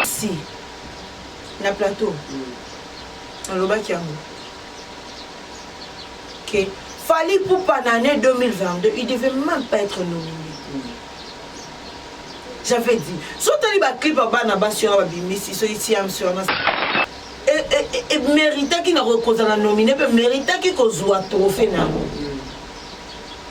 si na plateau nalobaki yango ke fali pupa na année 2022 il devait même pas être nominé j'avais dit so tali baclip ya bana basi wana babimisi so itiamsi wana emeritaki na kozala nomine mpe meritaki kozwa trophée na yango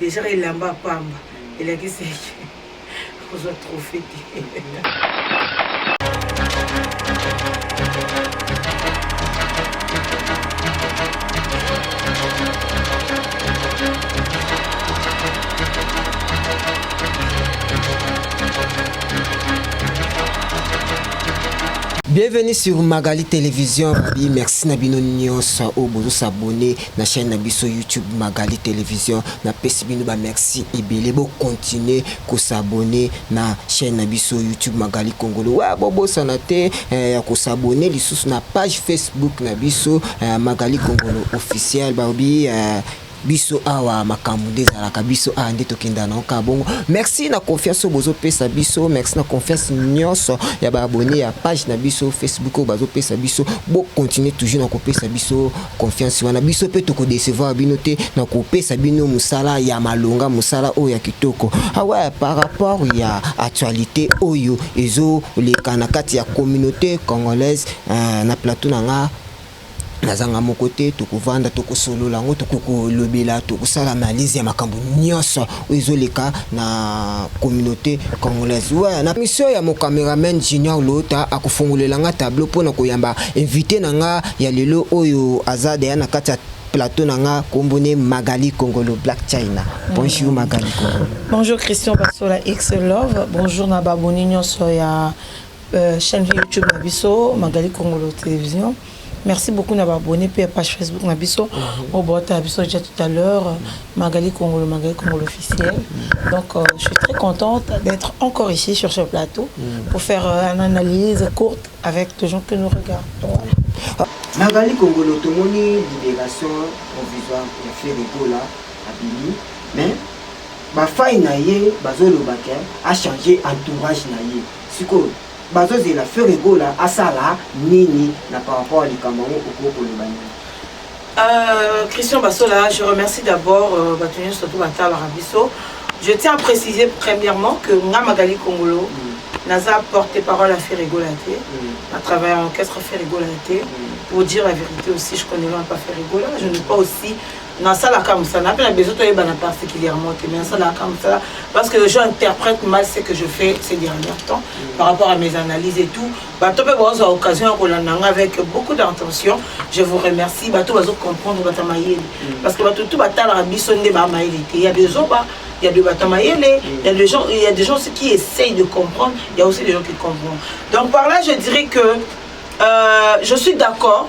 Dejà elamba ya pamba elakisi eke akozwa trophee te. Bienvenue sur Magali Television. Babi, merci na bino nyonso oyo bozo s'abonner. na chaine na biso YouTube Magali television na pesi bino ba merci ebele bo continuer ko s'abonner na chaine na biso YouTube Magali Kongolo wa bo bosana te eh, ya ko s'abonner lisusu na page Facebook na biso eh, Magali Kongolo officiel ba bi eh, biso awa makambo nde ezalaka biso awa nde tokenda na oka bongo merci na confiance oyo bozopesa biso merci na confiance nyonso ya baabone ya page na biso facebook oyo bazopesa biso bocontinue toujours na kopesa biso confiance wana biso mpe toko decevoir bino te na kopesa bino mosala ya malonga mosala oyo ya kitoko awa ah par rapport ya actualité oyo ezoleka na kati ya communauté congolaise euh, na plateau na nga nazanga moko te tokovanda tokosolola yango tokokolobela tokosala analyse ya makambo nyonso oyo ezo leka na communaute congolaise ouais na mission ya mon cameraman Junior Lota akofongolela nga tableau pona koyamba invité na nga ya lelo oyo aza deya na kati ya plateau na nga kombo ne Magali Kongolo Black China bonjour Magali Kongolo bonjour Christian Basola X Love bonjour na baboni nyonso ya euh, chaîne YouTube na biso Magali Kongolo Télévision Merci beaucoup na ba abonnes pe ya page Facebook na biso. Mhm. Oyo bota na biso déjà tout à l'heure mhm. Magali Kongolo Magali Kongolo officiel. Mhm. Donc euh, je suis très contente d'être encore ici sur ce plateau pour faire euh, une analyse courte avec les gens que nous regardons. Magali Kongolo tomoni libération provisoire ya Ferre Gola abimi mais ba faille na ye bazoloba ke a changer entourage na ye. Sikoyo Bazo zela ferre gola asala nini na par rapport ya likambo yango okoki koloba nini Euh, Christian Bassola, je remercie d'abord euh, Batonio surtout Batala Rabisso. Je tiens à préciser premièrement que nga Magali Kongolo mm. naza porté parole à Ferrigolate, mm. à travers l'orchestre Ferrigolate, mm. pour dire la vérité aussi, je connais même pas Ferrigola, je n'ai pas aussi nasalaka mosala nape na besoin toyebana particulièrement te mais nasalaka mosala parce que les gens interprètent mal ce que je fais ces derniers temps par rapport à mes analyses et tout bato mpe bazwa occasion ya kolanda nga avec beaucoup d'intention je vous remercie bato bazo comprendre bata mayele parce que bato tu batalaka biso nde ba mayele te ya bezoba il y a de bata mayele il y a des gens il y a des gens aussi qui essayent de comprendre il y a aussi des gens qui comprennent donc par là je dirais que euh, je suis d'accord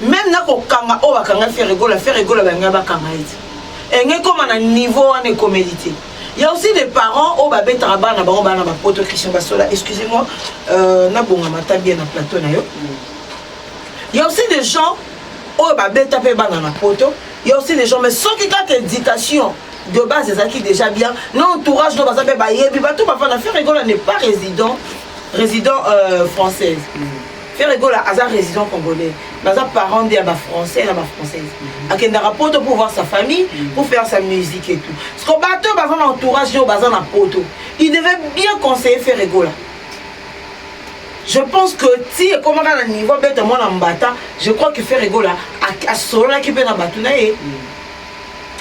meme na kokanga oyo bakanga fere gola fere gola balinga bakanga ye te enge ekoma na niveau wana ekomeli te ya aussi des parents oyo babetaka bana bango bana bapoto christian basola excusez moi euh, nabongama ata bien na plateau na yo ya aussi des gens oyo babeta mpe bana na poto ya aussi des gens mais soki kaka éducation de base ezalaki déjà bien na entourage no baza mpe bayebi bato bavanda fere gola n'est pas résident résident euh, française mm. Ferre Gola aza résident congolais, baza parent nde ya ba français na ba française. Akendaka poto pour voir sa famille, pour faire sa musique et tout. Parce que bato baza na entourage yo baza na poto. Il devait bien conseiller Ferre Gola. Je pense que ti ekomaka na niveau beta mwana mbata, je crois que Ferre Gola asololaki mpe na bato na ye.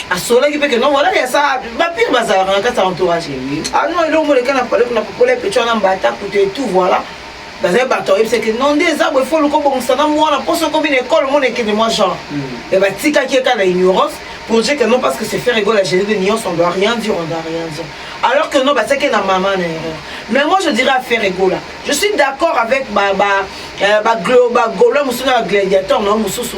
asolaki mpe keno wana yasa bapire bazalaka na kati ya entourage ah non elongo leka na pale kuna popola epeco wana mbata kutu etout voilà bazali bato ayebisa ke non nde eza boye fo loko bongisa na mwana mposo okomi na ekole omona ekende mwa genre hmm. mais batikaki ye kaka na ignorance pour dire que non parce que c'est faire ego la génie de nuance on doit rien dire on doit rien dire alors que non batiaki na mama na erreur mais moi je dirais à faire ego là je suis d'accord avec ba ba euh, ba glo ba golo mosusu na ba gladiateur na mosusu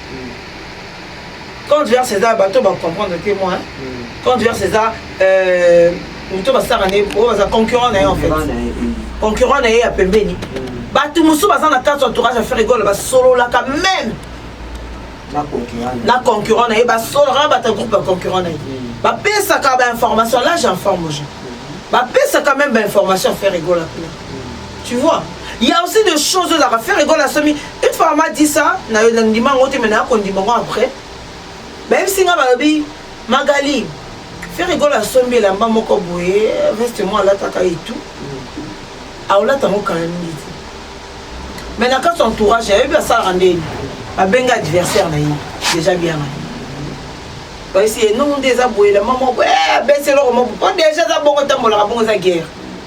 compte vert césar bato bacomprendre te moi compte vert césar moto basalaka nde oyo baza concurrent na ye en fait concurrent na ye ya pembeni bato mosusu baza na kati entourage ya ferre gola basololaka meme na concurrent na ye basololaka bato ya groupe ya concurrent na ye bapesaka bainformation là j'informe aux gens bapesaka meme bainformation ferre gola kuna tu vois il y a aussi des choses oyo ezalaka ferre gola asomi une fois mama dit ça nayo nandima yango te me naya kondima yango après bayebisi nga balobi magali ferigolo asombi elamba moko boye veste mo alataka etu aolata yango kala mingi te me na kati entourage ayebi asalaka ndeni babenga adversaire na ye déjà bien na bayesi ye nongo nde eza boye elamba moko abesi eloko moko po déjà eza bongo etambolaka bongo eza guerre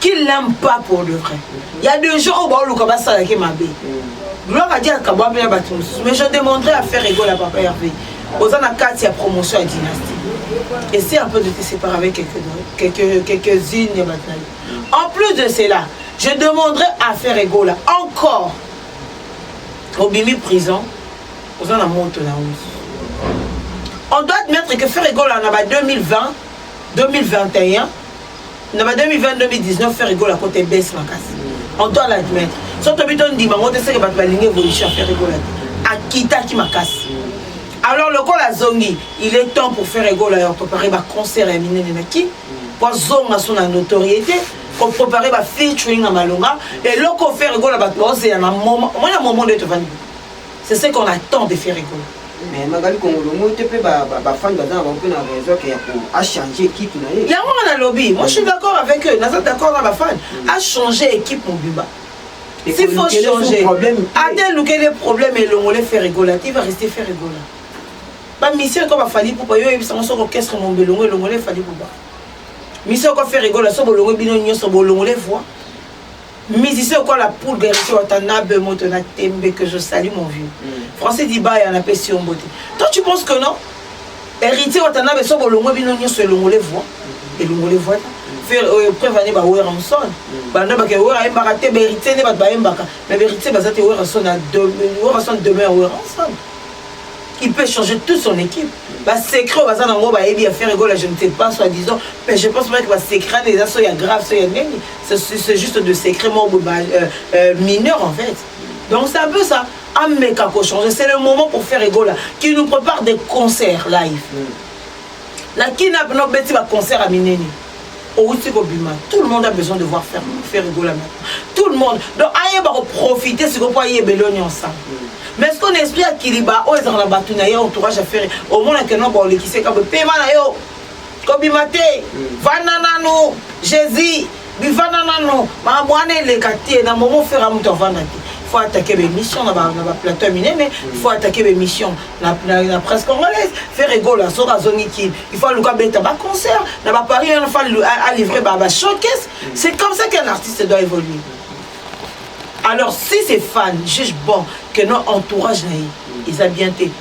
qu'il n'aime pas pour de vrai il y a des gens oyo baoluka basalaki mabe gloire adi akabwa mpe na bato mosusu mais je demanderai à faire ego ya papa herve oza na kati ya promotion ya dynastie essaie un peu de te séparer avec quelques-unes quelques, quelques ya bato na yo en plus de cela je demanderai à faire ego la encore obimi prison oza na moto na oso on doit admettre que faire ego la na ba 2020 2021 na ba 2020 2019 ferre gola kota ebese makasi on doit l'admettre so tobi tondima yango te seke bato balingi évolution ya ferre gola te akitaki makasi alors lokola azongi il est temps pour ferre gola ya préparer baconcert ya minene na kin po azonga so na notoriété koprépare bafeaturing na malonga eloko ferre gola bato baozela na moma omona momo nde tovandi C'est ce qu'on attend de Ferregola. Mais Magali Kongolo moi te pe ba ba, ba fans baza na bango pe na raison que ya ko a changer équipe na ye. Yango nga na lobi, moi je suis d'accord avec eux, naza d'accord na ba fans, a changer équipe mobimba. Et S'il faut Kolukele son changer, problème te. ate luke les problèmes elongole Ferregola, te va rester Ferregola. Ba mission ko ba fali poupa yo yebisa ngo soko orchestre mombe elongo elongole fali poupa. Mission ko Ferregola so bolongo bino nyonso bolongole voix. musicien okola poule garisi watanabe moto na tembe que je salis mon vieux mm. français dibaya napesi yo mbote toi tu penses que non héritier watanabe so bolongwe bino nyonso elongole voi elongole voi euh, preuve ane bawera mosone mm. banda bake wera ayembaka te baheritier nde bato bayembaka mais baheritier baza te wera son wera son demeure wera mosone il peut changer toute son équipe basecret oyo baza nango bayebi ya faire egola je ne sais pas soi disant mais je pense meke basecret ane eza so ya grave so ya ndenge c'est juste de secret moko boye ba euh, euh, mineur en fait donc c'est un peu ça ameka kochanger c'est le moment pour faire egola qui nous prépare des concerts live mm. na kina pena obeti baconcert ya minene outi kobima tout le monde a besoin de voir faire, faire egola maintenant tout le monde donc ayeba koprofite sikoyo mpo ayeba elo nyonso mais ce qu'on esprit ya kiliba oyo ezalaka na bato na ye entourage ya fere omonaka no baolekiseka boye pema na yo kobima te vanda nanu jésus bivanda nanu makambo wana eleka te na momo fera moto avanda te faut attaquer bémission na baplateau ya minene faut attaquer bémission na presse congolaise faire egola soki azongi kin il faut aluka beta baconcert na baparis wana faut alivre bashowcase c'est comme ça qu'un artiste doit évoluer alors si c'est fan juge bon que non entourage na ye eza bien te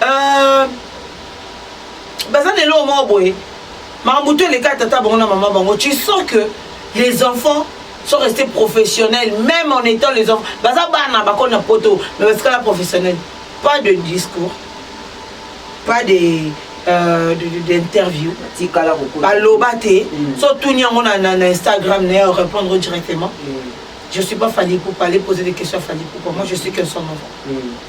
Euh, baza na eloko moko boye makambo to eleka ya tata bango na mama bango tu sens que les enfants sont restés professionnels même en étant les enfants baza bana bakoli na poto mais batikala professionnel pas de discours pas de euh, d'interview baloba te mm. so tuni yango na, na, na instagram naye répondre directement mm. je suis pas fali poupa aller poser des questions à fali poupa moi je suis qu'un son enfant mm.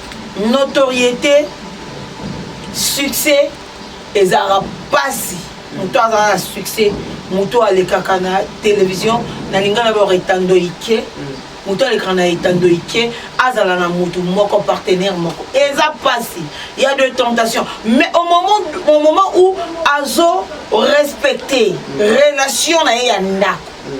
notoriété succès ezalaka mpasi moto azala na succès moto alekaka na télévision na linga na baor etando ike mm. moto alekaka na etando ike azala na motu moko partenaire moko eza mpasi ya de tentation mais au moment, au moment où azo respecte mm. relation na ye ya ndako mm.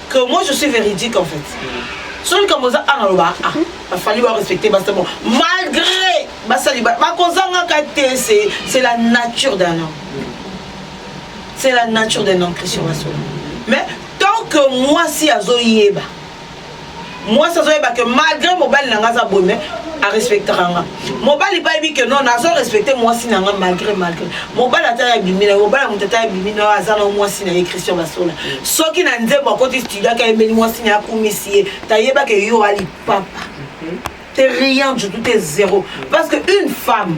que moi je suis véridique en fait soki likambo oza a naloba a bafali barespecte basi bon malgré basali bakozangaka te c'est la nature d'un homme c'est la nature d'un homme christian basolo mais tant que mwasi azoyeba mwasi azoyeba ke malgré mobali na nga aza boye me arespectaka nga mobali mpe ayebi ke non nazo respecte mwasi na nga malgré malgré mobali ata ya bimi na ye mobali ya moto ata ya bimi na yo aza na mwasi na ye christian basola soki na nzembo akoti studio aka yembeli mwasi na ye akumisi ye tayebaka yo alipapa te rien du tout te zéro parce que une femme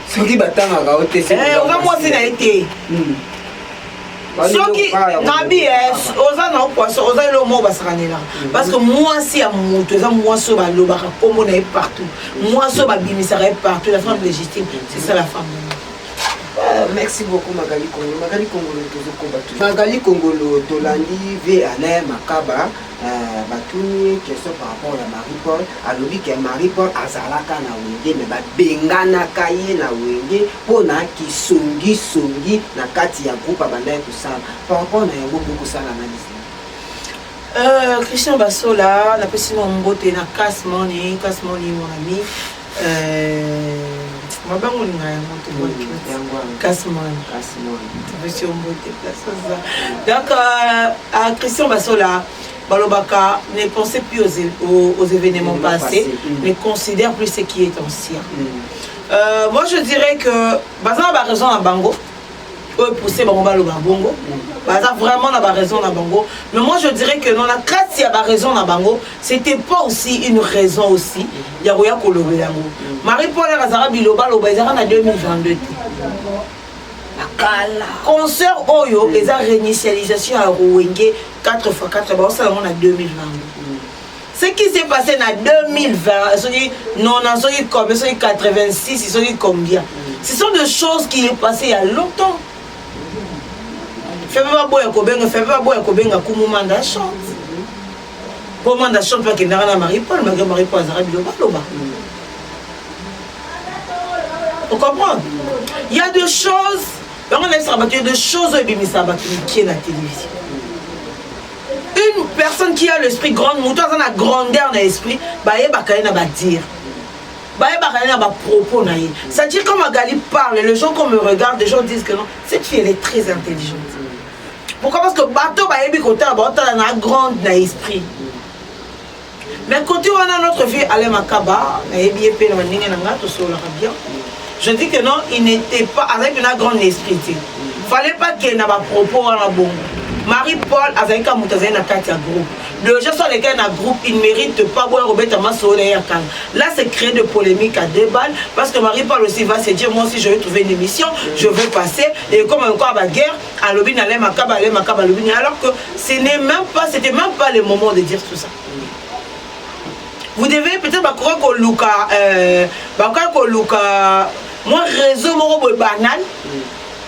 soki batangaka yo te eh, oza mwasi na ye te hmm. soki nabi eh, oza na poisson oza eloko moko basakanela hmm. parce que mwasi ya moto eza mwasi oyo balobaka nkombo na ye partout mwasi oyo babimisaka ye partout la femme légitime c'est ça la femme Euh, merci beaucoup magali kongolo magali kongolo tozokoba magali kongolo tolandi ve alain makaba Eh, batuni ye question par rapport ya marie paul alobi ke marie paul azalaka na wenge me babenganaka ye na wenge mpo na kisongisongi na kati ya groupe abandaki kosala par rapport na yango bokosala analyse Euh, Christian Basola, la personne en beauté, na casse money, casse money, mon ami. Eh, mabango linga yango tobwaki mm, kasi mwana topesi yo mbote place oza donc euh, à christian basola balobaka ne pensez plus aux, aux, aux événements passés mm. ne considère plus ce qui est ancien mm. euh, moi je dirais que baza na baraison na bango oyo pousse bango baloba bongo baza vraiment na baraison na bango mais moi je dirais que non na kati ya baraison na bango c'était pas aussi une raison aussi ya koya kolobela yango marie paul aka azaka bilobaloba ezaka na 2022 te concert oyo eza réinitialisation ya rowenge 4 x 4 baosala yango na 2022 Ce qui s'est passé na 2020, soki 90, soki combien, soki 86, soki combien. Ce sont des choses qui est passé il y a longtemps. Febe baboya kobenga, febe baboya kobenga kumu manda chante. Po manda chante pa kendaka na Marie-Paul, malgré Marie-Paul azaka biloba loba. Vous comprenez Il y a des choses, bango na esaka bato, il y a des choses oyo ebimisa bato mikie na télévision. une personne qui a l'esprit grande moto aza na grandeur na esprit bayebaka ye na badire bayebaka ye na bapropos na ye c'est-à-dire quand magali parle les gens qu'on me regarde les gens disent que non cette fille elle est très intelligente pourquoi parce que bato bayebi kotala baotala na grande na esprit Mais côté wana notre vieux Alain Makaba, nayebi ye pe na ndenge na nga tosolaka bien. Je dis que non, il n'était pas avec un grand esprit. Fallait pas qu'il y ait ba propos wana bongo. Marie Paul azali ka moto azali na kati ya groupe. Déjà soit les gars na groupe, il mérite pas boire au beta maso ya kanga. Là c'est créer de polémique à deux balles parce que Marie Paul aussi va se dire moi aussi je vais trouver une émission, je vais passer et comme encore la guerre alobi na lema kaba lema kaba alobi ni alors que ce n'est même pas c'était même pas le moment de dire tout ça vous devez peut-être bakoka koluka euh, bakoka koluka mwa réseau moko boye banal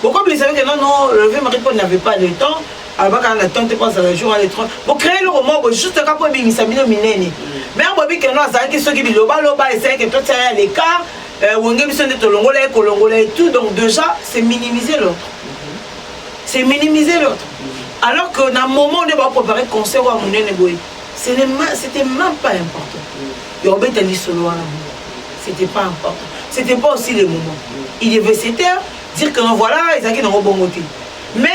bokobilisa yo ke non non le vieux marie paul n'avait pas le temps alobaka na temps te mpo azala jour ale tro bocree eloko moko boye juste kaka mpo ebimisa bino minene mare boyebi keno azalaki soki bilobaloba esalaki totia ya lekart Euh, wenge biso nde tolongola ye kolongola ye tout donc déjà c'est minimiser l'autre c'est minimiser l'autre alors que na moment nde baprépare concert oyo ya monene boye c'était même pas important ya obeta lisolo wana c'était pas important c'était pas aussi le moment il devait se taire dire que non voilà ezalaki nango bongo te mais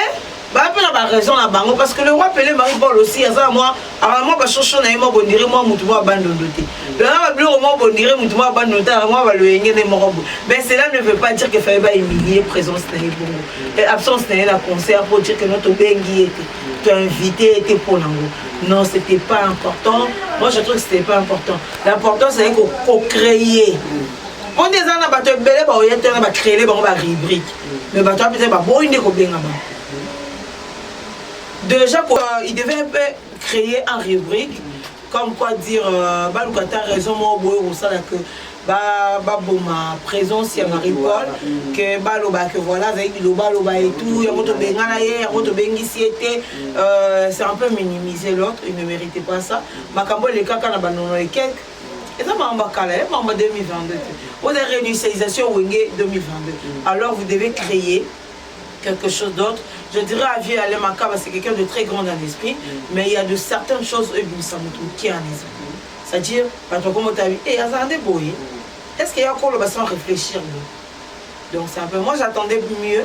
baya mpe na baraison na bango parce que le roi pele marie paul osi aza na mwa aaa mwa bashosho na ye mwa bondire mwa motu mwa bandondo te lona babiloko mwa bondire motu mwa bandondo te aza mwa baloyenge nde moko boye mais cela ne veut pas dire que fallait bahumilie présence na ye bongo et absence na ye na concert pour dire que no tobengi ye te toinvite ye te mpo nango non c'était pas important moi je trouve que c'était pas important l'important c'est ko créer mpo nde eza na bato ebele baoye te wana bacreele bango barubrique mais bato wana mpenza baboyi nde kobengama déjà quoi, il devait créer un rubrique comme quoi dire euh, baluka ta raison moko boye kosala que baboma présence ya marie paul ke baloba ke voilà azali bilobaloba et tout yango tobengana ye yango tobengisi ye te euh, c'est un peu minimiser l'autre il ne méritait pas ça makambo elekaka na banono ekeke eza makambo ya kala ya makambo ya 2022 te oza réinitialisation wenge 2022 alors vous devez créer quelque chose d'autre je dirais à vieux alain makaba c'est quelqu'un de très grand en esprit mais il y a de certaines choses oyo ebimisa moto moke en esprit c'est à dire bato akoma otabi e azala nde boye est ce que ya koloba sans réfléchir donc c'est un peu moi j'attendais mieux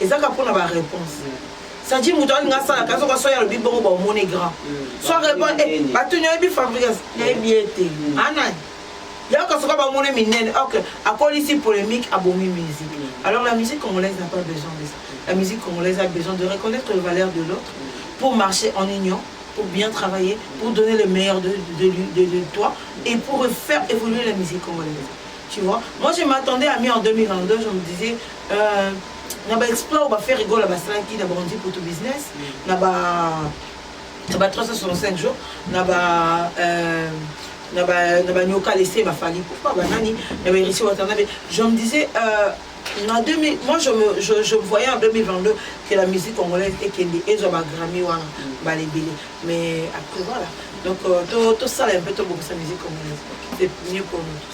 eza kaka mpo na ba réponse sadi moto alinga asalaka azoka soki alobi bongo baomoni grand so répond eh, batuni oyebi fabrigas nayebi ye te anani yaka soki bamoni minene ok akolisi polémique abomi musique alors la musique congolaise n'a pas besoin de ça la musique congolaise a besoin de reconnaître les valeurs de l'autre pour marcher en union pour bien travailler pour donner le meilleur de, de, de, de toi et pour faire évoluer la musique congolaise Tu vois Moi, je m'attendais à mi en 2022, je me disais, Euh, na ba exploit oyo ba faire rigole basalaki na bakonzi poto business na ba na ba 365 jours na ba euh, na ba na ba nyoka laisser ba fali pourquoi ba nani na ba héritier watanabe je me disais euh, na 2000 moi je me je, je voyais en 2022 que la musique congolaise ekende ezwa ba Grammy wana ba lebele mais après voilà donc euh, to to sala un peu to bokisa musique congolaise c'est mieux pour nous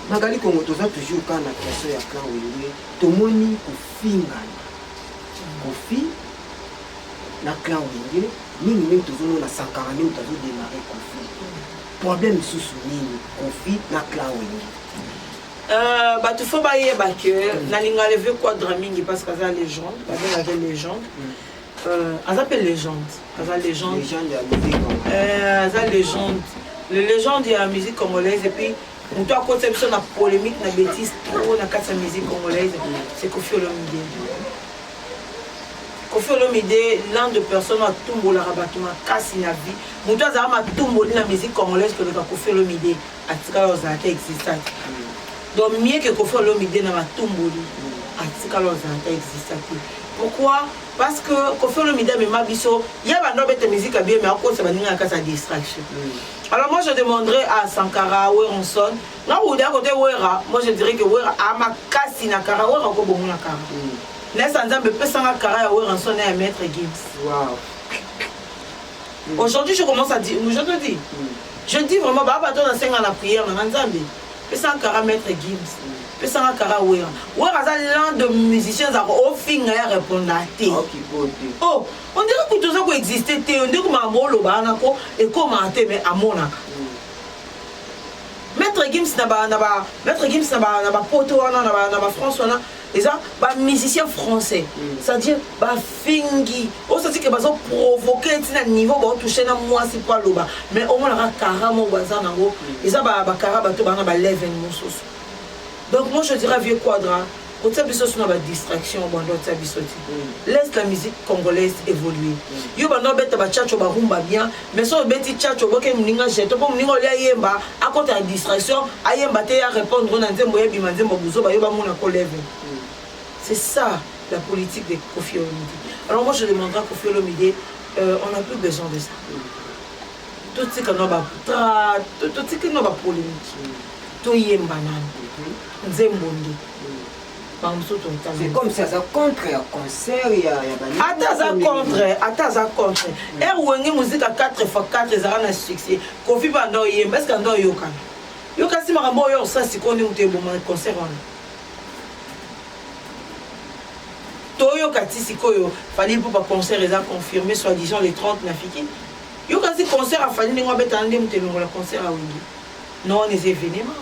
Magali Kongo toza toujours kaka na question ya clan Wenge, tomoni kofingana kofi na clan Wenge mingi mingi, tozomona Sankara nini tazo démarrer kofi problème lisusu nini kofi na clan Wenge euh, bato fo bayeba ke mm. nalinga leve quadra mingi parce que aza légende babengaka légende mm. Euh, aza mpe legende aza legende euh, aza legende le legende ya musique congolaise epuis moto akotisa biso na polémique na bétise trop na kati ya musique congolaise c'est kofi olomide kofi olomide l'un de personne atumbolaka bato makasi na vie moto azala matumboli na musique congolaise koleka kofi olomide atikala kozala ata existant donc mieux que kofi olomide na matumboli atikala kozala ata existant te pourquoi parce que kofi olomide amema biso ye banda obeta musique ya bien mais akosa baninga na kati ya distraction mm. alors moi je demanderai à sankara weronson nga kouda kote wera moi je dirais que wera amakasi na kara wera okobongo na kara mm. nesa nzambe epesanga kara ya weronson na ya maître gims wow. Aujourd'hui je commence à dire, je te dis, je dis vraiment ba bato na senga na prière na Nzambe. Pesa un kara maître Gims. Pesa un kara Wera. Wera aza l'un de musiciens zako ofinga ya répondre à te. Oh, on dirait que toza ko exister te, on dirait que ma bolo ba na ko et comment te mais amona. Maître Gims na ba na ba maître Gims na ba na ba poto wana na ba na ba France wana eza ba musicien français mm. c'est-à-dire bafingi osati ke bazo provoke ti na niveau baotouche na mwasi mpo aloba mais omonaka kara moko baza nango mm. eza bakara bato bana balevel mosusu donc moi je dirais vieux quadra kotia biso so na badistraction banda otia biso ti mm. laisse la musique congolaise évoluer yo banda obeta bachacho barumba bien mais soki obeti chacho oboke moninga jeton mpo moninga olia ayemba akota na distraction ayemba te ya répondre na nzembo ya bima nzembo buzoba yo bamona ko leve c'est ça la politique de kofi olomide alors moi je demandera kofi olomide euh, on a plus besoin de ça totika no batra totiki no bapolémique toyemba nani nzembo nde c'est comme si aza contre ya concert ya ata aza contre ata aza contre ere wenge muzika 4 fois 4 ezalaka na succès kofi banda oyemba eske anda oyokana yokasi makambo oyo osala sikoyo nde moto eboma concert wana toyoka ti sikoyo fali mpo baconcert eza confirmé soit disant le 30 na fiki yokasi concert afali ndenge abetana nde moto elongola concert awenge Non, wana eza evenement.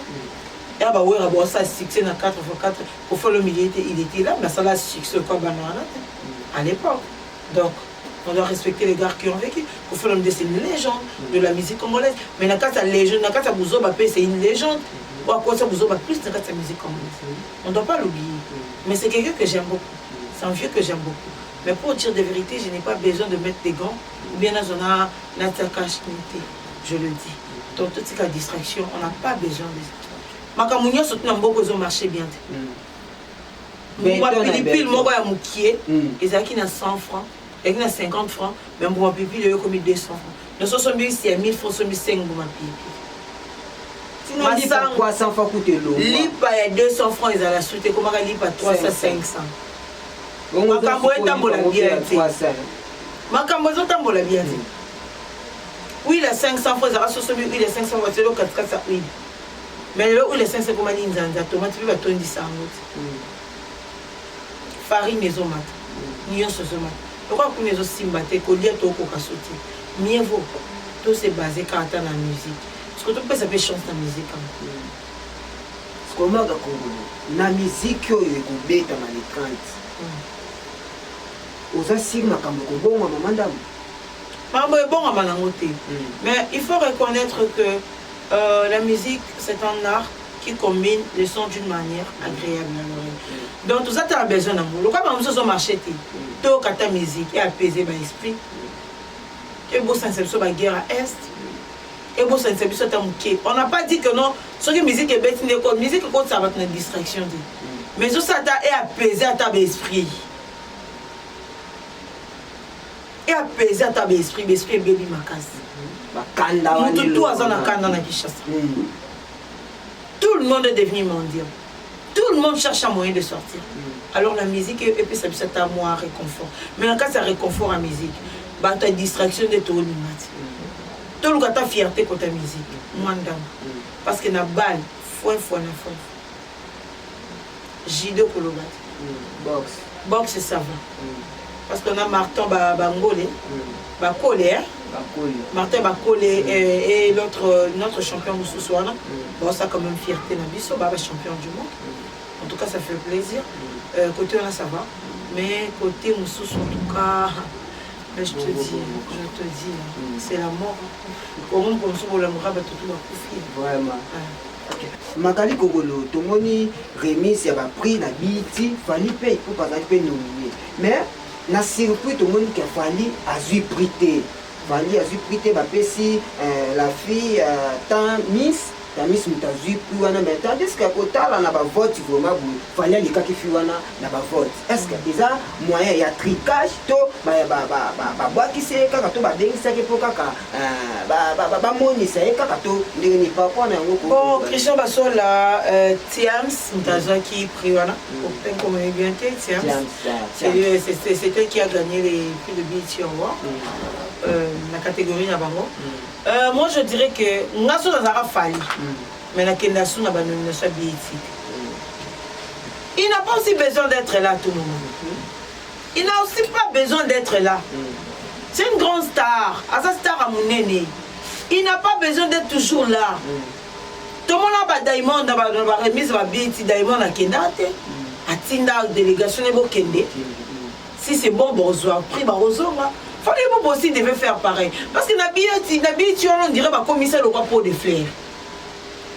Ya ba wera bo asala succès na 4 fois 4 ko folo milieu te, il était là, mais asala succès quoi bana wana te à l'époque. Donc on doit respecter les gars qui ont vécu. Kofi Olomide c'est une légende de la musique congolaise, mais na kati ya légende, na kati ya buzoba pe c'est une légende. Ou à cause ya buzoba plus na kati ya musique congolaise. On doit pas l'oublier. Mais c'est quelqu'un que j'aime beaucoup. C'est un vieux que j'aime beaucoup. Mais pour dire des vérités, je n'ai pas besoin de mettre des gants ou bien nazona na tsakashni te. je le dis donc totika distraction on n'a pas besoin de makambo nyonso tuna mboko ezo marche bien te mbuma pilipili moko ya mokie ezalaki na 100 francs ezalaki na 50 francs mais mbuma pilipili oyo ekomi 200 francs nyonso osombi isi ya 1000 francs osombi 5 mbuma pilipili lipa ya 200 francs ezala su te ekomaka lipa 300 500 makambo etambola bien te makambo ezotambola bien te huile ya 500 fois ezalaka soso mi huile ya 500 fois telo katikati ya huile mais lelo huile ya 500 ekoma linzanza tomate mpe batondisa yango te mm. farine ezomata mm. nyonso ezomata lokola kuna ezosimba te kolia tokoka so te mieux vaut to se base kaka ata na musique siko topesa mpe chance na musique yango mm. sikomaka kongolo na miziki oyo ekobeta na le 30 oza siri makambo ekobongwa mama ndambo Pardon ebongama nango te mais il faut reconnaitre que euh, la musique c'est un art qui combine le son d'une manière agréable na l'oreille donc toza tala besoin nango lokola bango mosusu ozomarche te toyoka ata musique e apaiser ba esprit ebosanisa biso baguerre ya est ebosanisa biso ata moke on n'a pas dit que non soki musique ebeti nde ko musique ekotisa bato na distraction te mais ezosala ata e apaiser ata ba esprit e apese ata ba esprit ba esprit ebebi makasi bakanda wana moto tu aza na kanda na kinshasa mm. tout le monde est devenu mendiant tout le monde cherche un moyen de sortir mm. alors la musique epesa biso ata mwa réconfort mais na kati ya réconfort ya musique bato ya distraction nde toolinga ti mm. toluka ata fierté kota musique mwa ndambo parce que na bale fue fue na fue judo koloba boxe boxe ça va mm. parce qu'on a marton ba bangole mm. ba kole hein martin bakole mm. euh, et l'autre euh, notre champion mosusu wana baosa quand même fierté na biso baba champion du monde en tout cas ça fait plaisir euh, côté wana ça va mais côté mosusu en tout cas mais je te dis je te dis c'est la mort omoni komosusu bolamoka bato tu bakufi vraiment Magali Kogolo, tomoni remise ya ba prix na BET, Fally mpe Ipupa azali mpe nomine. Mais na surpris tomoni ke Fally azwi prix te. Fally azwi prix te bapesi euh, la fille euh, temps Miss Tamis moto azwi prix wana mais tandis que kotala na bavote vraiment boye Fally alekaki fi wana na bavote. Est-ce que eza moyen ya tricage to babwakisi ye kaka to babengisaki mpo kaka Ah, bamonisa ye kaka to ndenge nini paraport na yango bon christian basola euh, tiams moto mm. azwaki prix wana mm. openkomoi bien te tiams euh, c'était qui a gagné les prix de bit yango mm. euh, na catégorie na bango moi je dirais que nga so nazalaka fali mais nakenda su na banomination ya bit il n'a pas aussi besoin d'être là tout le monde il n'a aussi pas besoin d'être là c'est une grande star aza star ya monene il n'a pas besoin d'être toujours là tomona badiamond na baremise babeti diamond akenda te atinda délégation ne bokende si c'est bon bozwa prix bakozonga fallait bo bosi devait faire pareil parce que na biyeti na biyeti wana on dirait bakomisa lokwa pot de flaire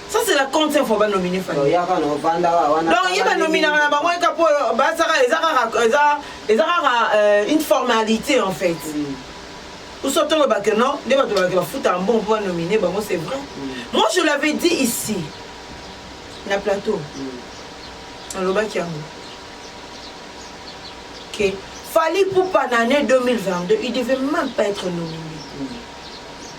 Ça c'est la compte fois ba nominer Fally. Donc yaka no vanda wana. Donc yeba nominer na bango eka po ba saka ezaka eza ezaka euh, une formalité en fait. Mm. Ou soit on ba que non, nde ba to ba que ba futa un bon point nominer bango c'est vrai. Mm. Moi je l'avais dit ici. Na plateau. Mm. Alobaki yango. Okay. Fally Poupa en année 2022, il devait même pas être nominé.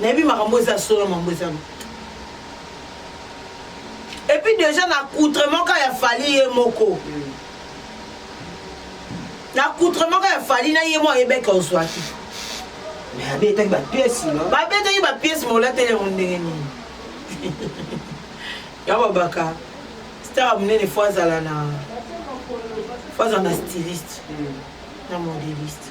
nayebi makambo eza solo mambo eza lokuta epuis deja na accoutrement ka ya fali ye moko mm. na accoutrement ka ya fali na ye moko ayebeke ozwaki babetaki bapiesi babetaki bapiesi molateli yango ndenge nini ya babaka star monene fo azala na fo azala na styliste mm. na modeliste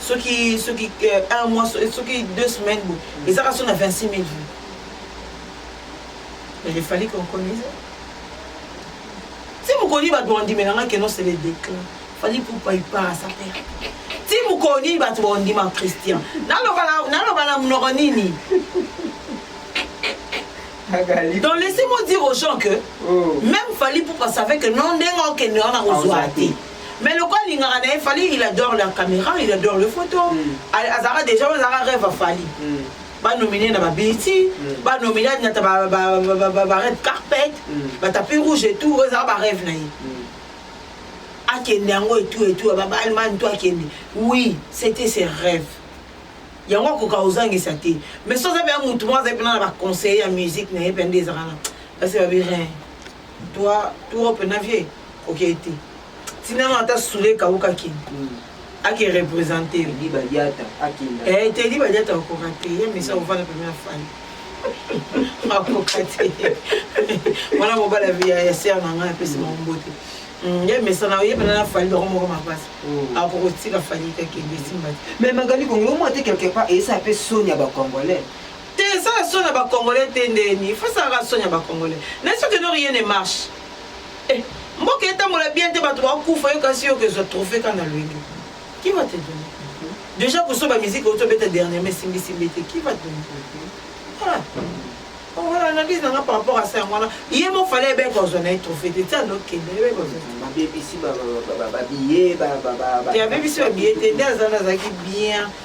soki soki euh, un mois soki deux semaines bo ezaka so na 26 000 vues mais il fallait qu'on connaisse ti mokoni bato bandimela nga keno c'est le déclin fallait pour paipa sa père ti mokoni bato bandima christian naloba na monoko nini donc laissez-moi dire aux gens que oh. même fallait pour savait que non ndenge okende wana kozwa te mais lokola alingaka na ye fali il adore la caméra il adore le photo mm. azalaka déjà oyo azalaka rêve afali mm. banomine na babeti mm. banomine adinata barêve carpet mm. batapi rouge et tout oyo ezalaka barêve na ye mm. akende yango etou etou babalmane to akende oui c'était ses rêves yango akoka ozangisa te mais soza mpe ya motu moko azali mpena na baconseiller ya musique na ye mpe nde ezalaka na basi babi rien toi trop na vie koke te tina no ata sule kauka kin ake represente tedi badiata akinda eh tedi badiata okoka te ye misa ovanda pembe na fani akoka te wana mobala ya ser na ngai apesi bango mbote Mm, ye mesana oyebana na fali bango moko mapasi mm. akokotika fali kakende esimba te mais magali kongo yo mwa te quelque part eyesa mpe soni ya bacongolais Te sala soni ya ba congolais te ndeni faut salaka soni ya ba congolais na ce que no rien ne marche eh mboka etambola bien te bato bakufa yo kasi yo kezwa trophée ka na lwenge qui va te donner déjà kosoba musique oyo tobeta dernièrement esimbisimbi te qui va te donner voilà wana oh, analyse nanga par rapport à ça yango wana ye mo fale ebe kozwa na ye trophée te tia ndokende ebe kozwabebisi babiye te abebisi babiye te nde azana azalaki bien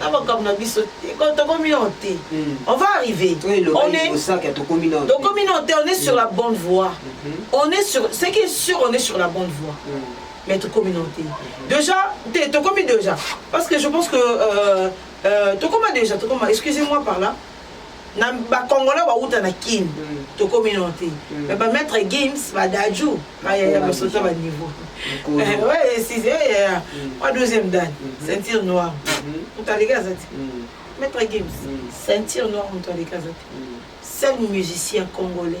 na makambo na biso tokomi nao te hmm. on va arriver tokomi nao te on est sur la hmm. bonne voie hmm. on est sur ce qui est sûr on est sur la bonne voie mais tokomi nao te déjà te tokomi déjà parce que je pense que euh, euh, tokoma déjà tokoma excusez moi par là na ba congolais ba wuta na kin mm. to komi no te mm. mais ba maître games ba daju ba ya ya ba sota ba niveau eh, ouais si c'est eh, ya ya wa mm. deuxième dan mm-hmm. ceinture noire mm-hmm. mutalika zati maître games ceinture noire mutalika zati seul musicien congolais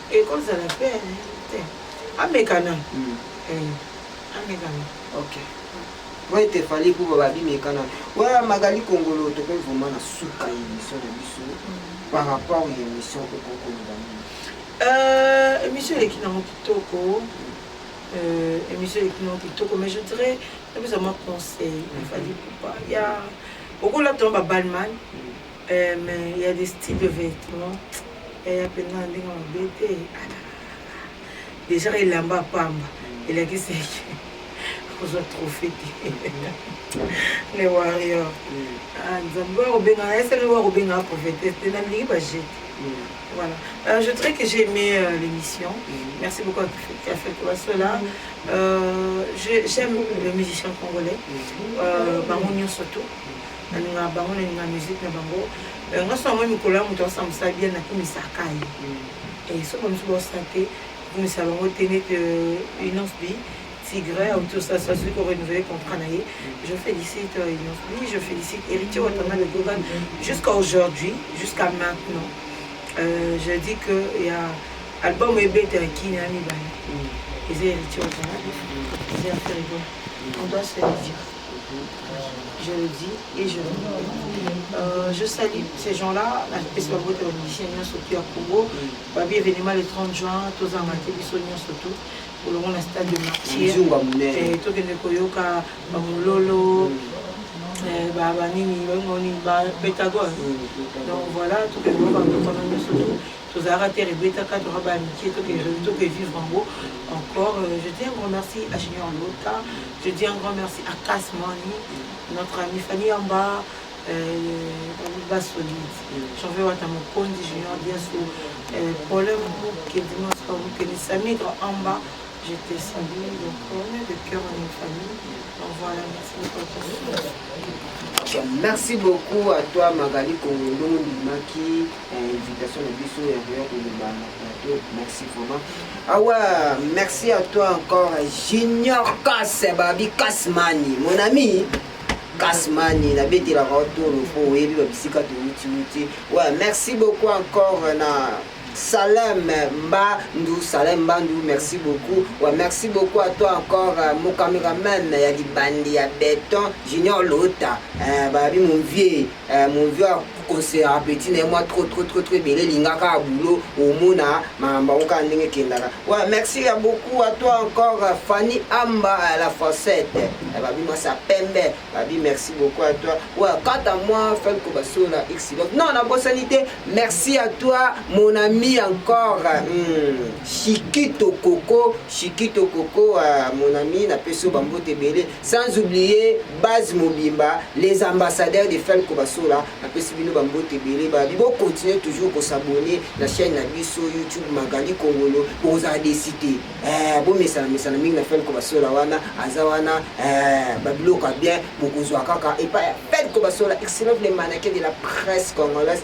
ekozala pe te amekana hmm. eh, amekana ok oyo te fali kuba babimekana oya magali kongolo tokoki vraimen na suka ya émission na biso hmm. par rapport ya émission okoki koloba nini euh, émission eleki nango kitoko euh, émission eleki nango kitoko mais je dirais napesa mwa conseil efali kuba ya okolata yango babalman Eh mais il y a des styles de vêtements yaya mpenza na ndenge mabe te déjà elamba pamba elakisi eke kozwa trophée te le warrior nzambe wakobenga na esali wakobengaka prophétesse te na ndenge bajete Voilà. Euh, je dirais que j'ai aimé euh, l'émission. Merci beaucoup à Café Kovasola. Euh, J'aime les musiciens congolais, euh, Bamonion surtout. nalingaka bango nalinga musique na bango eh, nga so yango mikolo ya moto asa mosala bien nakumisaka ye mm. eh, so bamosusu baosala te kumisa bango te nete euh, inonce bi tigre autour ça ça soki korenouveler contrat na ye mm. je félicite euh, inonce bi je félicite héritier watanga de gogan jusqu'à aujourd'hui jusqu'à maintenant euh, je dis que ya album ebetaki na mibale mm. eza héritier watanga eza ya fergo on doit se le dire je le dis et je le dis. Euh, je salue ces gens-là, la pesi bango te bamizicien nyonso tu ya congo babi événement le 30 juin tozanga te biso nyonso tu olongo na stade de martyr eh, tokende koyoka bamololo eh, banini bango nini bapentagone mm, donc voilà tokende koyoka bamokono nyonso tu tozalaka terre ebetaka toka baya mikie toke vivre yango encore euh, je dis un grand merci à junior lota je dis un grand merci à cas mani notre ami fani yamba basolide janve wata mokonzi junior diaso problème mokedimaskokeni samidre amba je te salue donc on est de cœur on est famille donc voilà merci beaucoup merci beaucoup à toi magali kongo ndenge ondimaki invitation na biso ya koya koloba na plateau merci vraiment awa ah merci à toi encore junior kas babi kasmani mon ami kasmani nabetelaka otolo mpo oyebi babisika toutiuti wa merci beaucoup encore na Salem Mbandou, Salem Mbandou, merci beaucoup. Ouais, merci beaucoup à toi encore, euh, mon caméraman, il y a du bandi, il y a béton, Junior Lota, euh, bah, mon vieux, euh, mon vieux conseil ya apeti na ye mwa trop trop trop trop ebele elingaka ya boulot omona makambo yango kaka ndenge ekendaka wa merci ya beaucoup à toi encore fanny amba à la facette eh, babi mwa sa pembe babi merci beaucoup à toi wa kata mwa felko basola xilot non nabosani te merci à toi mon ami encore hmm. shikito koko shikito koko uh, mon ami napesi yo bambote ebele sans oublier base mobimba les ambassadeurs de felco basola napesi bino bambote ebele babi bocontinue toujours kosabone na chaîne na biso youtube magali kongolo bokozala desi te eh, bomesana mesana mingi na felco basola wana aza wana eh, babiloko ya bien bokozwa kaka epai ya felco basola excellent le manake de la presse congolaise